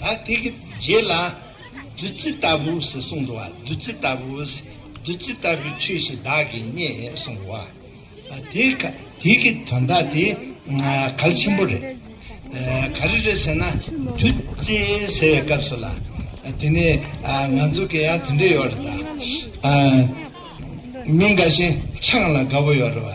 ད་དེ་གི་རྗེས་ལ། བདུད་རྩི་ལྟ་བུའོ་ཞེས་གསུངས་འགྲོ་བ་བདུད་རྩི་ལྟ་བུའོ། བདུད་རྩི་ལྟ་བུའི་ཆོས་ཞིག་བདག་གིས་རྙེད་གསུངས་འགྲོ་བ། དེ་ག་དེ་གི་དོན་དག་དེ་ག་ལ་ཆེན་པོ་རེད། ག་རེ་རེད་ཟེར་ན། བདུད་རྩི་ཟེར་བའི་སྐབས་སུ་ལ། དེ་ནས་ང་ཚོ་གི་ཡང་དེ་འདྲ་ཡོད་རེད་ད། མི་འགའ་ཞིག་ཆང་ལ་དགའ་བོ་ཡོད་རེད་བ།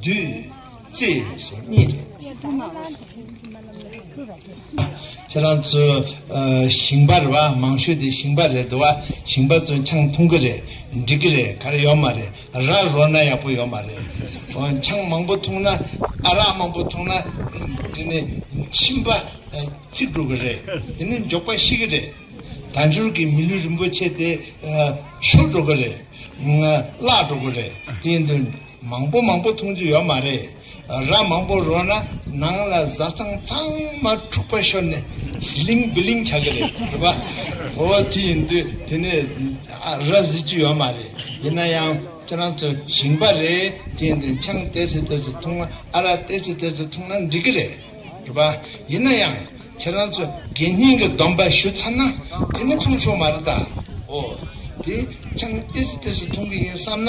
བདུད་རྩི་སོ་གཉིས་རེད། ཁྱེད་རང་ཚོས་ཞིང་པ་རེད་བ་མང་ཤོས་དེ་ཞིང་པ་རེད་འདུག་བ་ཞིང་པ་ཚོས་ཆང་འཐུང་གི་རེད་འགྲིག་གི་རེད་ག་རེ་ཡོད་མ་རེད་ར་རོ་ན་ཡག་པོ་ཡོད་མ་རེད། ཆང་མང་པོ་འཐུང་ན་ཨ་རག་མང་པོ་འཐུང་ན་དེ་ནི་མཆིན་པ་ཚིག་འགྲོ་གི་རེད་དེ་ནི་འཇོག་པ་ཤེས་གི་རེད། དལ་འབྱོར་གྱི་མི་ལུས་རིན་པོ་ཆེ་དེ་ཤོར་འགྲོ་གི་རེད་བརླག་འགྲོ་གི་རེད་དེ་ཡིན་དུས། མང་པོ་མང་པོ་འཐུང་རྒྱུ་ཡོད་མ་རེད། རག་མང་པོ་རོགས་ན་ནང་ལ་བཟའ་ཚང་ཚང་མ་འཁྲུག་པ་ཤོར་ནས་ཟི་ལིང་བི་ལིང་བྱ་གི་རེད་རེད་པ། ཨོ་དེ་ཡིན་དུས་དེ་ནས་ར་བཟི་རྒྱུ་ཡོད་མ་རེད། ཡིན་ན་ཡང་ཁྱེད་རང་ཚོ་ཞིང་པ་རེད་དེ་ཡིན་དུས་ཆང་དེ་ཚོ་དེ་ཚོ་འཐུང་ན་ཨ་རག་དེ་ཚོ་དེ་ཚོ་འཐུང་ན་འགྲིག་གི་རེད་རེད་པ། ཡིན་ན་ཡང་ཁྱེད་རང་ཚོ་དགེ་བསྙེན་གྱི་སྡོམ་པ་ཞུ་ཚར་ན་དེ་ནས་འཐུང་ཆོག་མ་རེད་ད། ཨོ་དེ་ཆང་དེ་ཚོ་དེ་ཚོ་འཐུང་གི་ཡིན་བསམ་ན།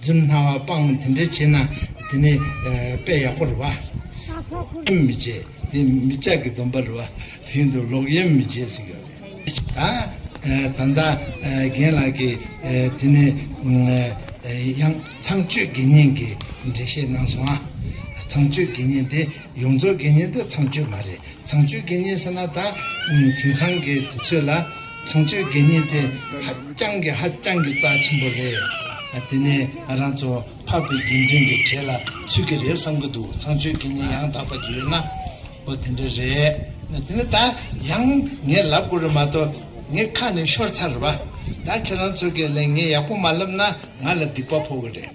རྫུན་སྨྲ་བ་སྤང་དེ་འདྲ་བྱེད་ན་དེ་ནི་དཔེ་ཡག་པོ་རེད་བ། ཡེམ་མི་བྱེད་དེ་མི་ཅག་གི་སྡོམ་པ་རེད་བ། དེ་ཡིན་དུ་ལོག་ཡེམ་མི་བྱེད་ཟེར་གྱི་ཡོད་རེད། ད་ད་ལྟ་རྒན་ལགས་ཀྱིས་དེ་ནི་ཡང་ཚངས་སྤྱོད་དགེ་བསྙེན་གྱི་འགྲེལ་བཤད་གནང་སོང་ཨ། ཚངས་སྤྱོད་དགེ་བསྙེན་དེ་ཡོངས་རྫོགས་དགེ་བསྙེན་དེ་ཚངས་སྤྱོད་མ་རེད་ཚངས་སྤྱོད་དགེ་བསྙེན་ཟེར་ན་ད་དེང་ཚང་གི་དུས་ཚོད་ལ། བྱང་ཆོས་དགེ་བསྙེན་དེ་ཧ་ཅང་གི་ཧ་ཅང་གི་རྩ་ཆེན་པོ་རེད། དེ་ནས་ང་རང་ཚོ་འཕགས་པའི་དགེ་འདུན་གྱི་གྲས་ལ་ཚུད་ཀྱི་རེད་བསམ་གྱི་འདུག་བྱང་ཆོས་དགེ་བསྙེན་ཡང་དག་པ་བརྗོད་ན་པོ་དེ་འདྲ་རེད། དེ་ནས་ད་ཡང་ངས་ལབ་དགོས་རེད་མ་གཏོགས་ངའི་ཁ་ནས་ཤོར་ཚར་རེད་པ། ད་ཁྱེད་རང་ཚོ་གས་ལན་ངས་ཡག་པོ་མ་ལབ་ན་ང་ལ་སྡིག་པ་ཕོག་གི་རེད།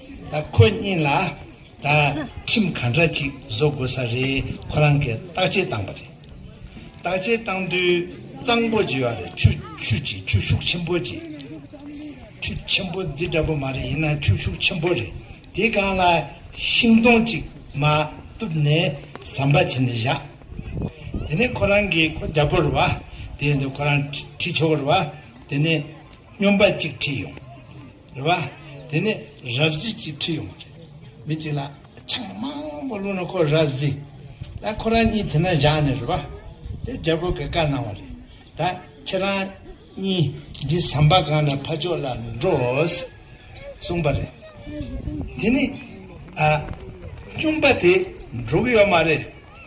ད་ཁོ་གཉིས་ལ་ད་ཁྲིམས་ག་འདྲ་ཅིག་བཟོ་དགོས་ས་རེད་ཁོ་རང་གིས་བརྟག་དཔྱད་བཏང་པ་རེད། བརྟག་དཔྱད་བཏང་དུས་གཙང་པོ་བྱས་བ་རེད་ཆུ་ཆུ་ཆེ་ཆུ་ཤུགས་ཆེན་པོ་ཆེ། ཆུ་ཆེན་པོ་འདི་འདྲ་པོ་མ་རེད་ཡིན་ན་ཆུ་ཤུགས་ཆེན་པོ་རེད་དེ་སྒང་ལ་ཤིང་སྡོང་ཅིག་མ་བཏུབ་ནས་ཟམ་པ་བྱས་ནས་བཞག་དེ་ནས་ཁོ་རང་གིས་ཁོ་རྒྱ་པོར་བ་དེ་ཡིན་དུས་ཁོ་རང་ཁྲིད་ཆོག་རེད་བ་དེ་ནས་སྨྱོན་པ་ཅིག་ཁྲིད་ཡོང། རེད་བ། དེ་ནས་རབ་གཟིགས་ཅིག་ཁྲིད་ཡོང་བ་རེད། མི་གཅིག་ལ་ཆང་མང་པོ་བླུགས་ན་ཁོ་རབ་གཟིགས་ད་ཁོ་རང་གཉིས་དེ་ན་བཞག་ནས་རེད་བ། དེ་རྒྱལ་པོ་གི་བཀའ་གནང་བ་རེད། ད་ཁྱེད་རང་གཉིས་འདི་ཟམ་པ་སྒང་ལ་ཕ་ཕྱོགས་ལ་འགྲོ། གསུངས་པ་རེད། དེ་ནས། ཨ། སྤྱོན་པ་དེ་འགྲོ་གི་ཡོད་མ་རེད།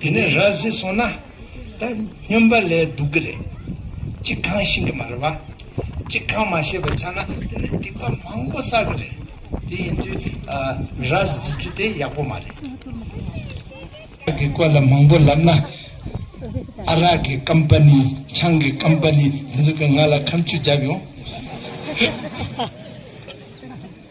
དེ་ནས་ར་བཟི་སོང་ན། ད་སྨྱོན་པ་ལས་སྡུག་གི་རེད། ཅི་གང་ཤིང་གི་མ་རེད་བ། ཅི་གང་མ་ཤེས་པའི་ཆ་ན་དེ་ནི་སྡིག་པ་མང་པོ་བསགས་གི་རེད། དེ་ཡིན་དུས་ར་བཟི་རྒྱུ་དེ་ཡག་པོ་མ་རེད། ར་གི་སྐོར་ལ་མང་པོ་ལབ་ན། ཨ་ར་གི་ཀམ་པ་ནི་ཆང་གི་ཀམ་པ་ནི་འདི་ཚོ་གིས་ང་ལ་ཁམ་ཆུ་བརྒྱབ་ཡོང།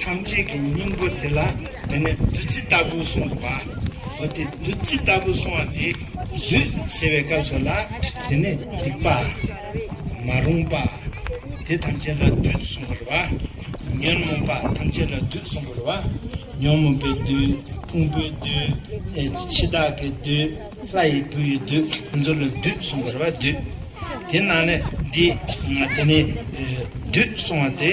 ཐམས་ཅད་ཀྱི་སྙིང་པོ་དེ་ལ་དེ་ནས་བདུད་རྩི་ལྟ་བུ་གསུངས་འདུག་པ། འོ་དེ་བདུད་རྩི་ལྟ་བུ་གསུང་བ་དེ་བདུད་ཟེར་བའི་སྐབས་སུ་ལ་དེ་ནས་སྡིག་པ། མ་རུངས་པ། དེ་ཐམས་ཅད་ལ་བདུད་གསུངས་པར་བ། ཉོན་མོངས་པ་ཐམས་ཅད་ལ་བདུད་གསུངས་པར་བ། ཉོན་མོངས་པའི་བདུད། ཕུང་པོའི་བདུད། འཆི་བདག་གི་བདུད། ལྷ་ཡི་བུ་ཡི་བདུད། དེ་ཚོ་ལ་བདུད་གསུངས་པར་བ་བདུད། དེ་ནང་ནས་འདི། དེ་ནས་བདུད་གསུང་བ་དེ།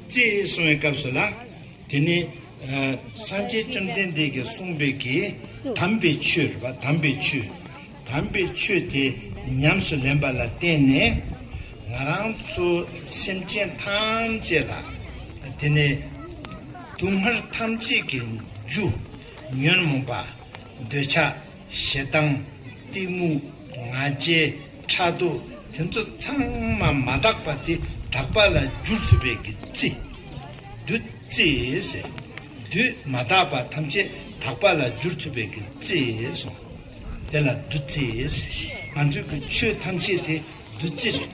ཅེས་གསུང་བའི་སྐབས་སུ་ལ། དེ་ནས། སངས་རྒྱས་བཅོམ་ལྡན་འདས་ཀྱིས་གསུངས་པའི་གི། དམ་པའི་ཆོས། རེ་བ་དམ་པའི་ཆོས། དམ་པའི་ཆོས་དེ་ཉམས་སུ་ལེན་པ་ལ་བརྟེན་ནས། ང་རང་ཚོ་སེམས་ཅན་ཐམས་ཅད་ལ། དེ་ནས། སྡུག་བསྔལ་ཐམས་ཅད་ཀྱི་རྒྱུ། ཉོན་མོངས་པ། འདོད་ཆགས། ཞེ་སྡང། གཏི་མུག། ང་རྒྱལ། ཕྲག་དོག་དེ་ཚོ་ཚང་མ་མ་དག་པ་དེ་དག་པ་ལ་བསྒྱུར་ཐུབ་པའི་གི་རྩི། བདུད་རྩི། ཟེར། བདུད་མ་དག་པ་ཐམས་ཅད་དག་པ་ལ་བསྒྱུར་ཐུབ་པའི་གི་རྩི་སོང། དེ་ལ་བདུད་རྩི་ཟེར། ང་ཚོའི་གི་ཆོས་ཐམས་ཅད་དེ་བདུད་རྩི་རེད།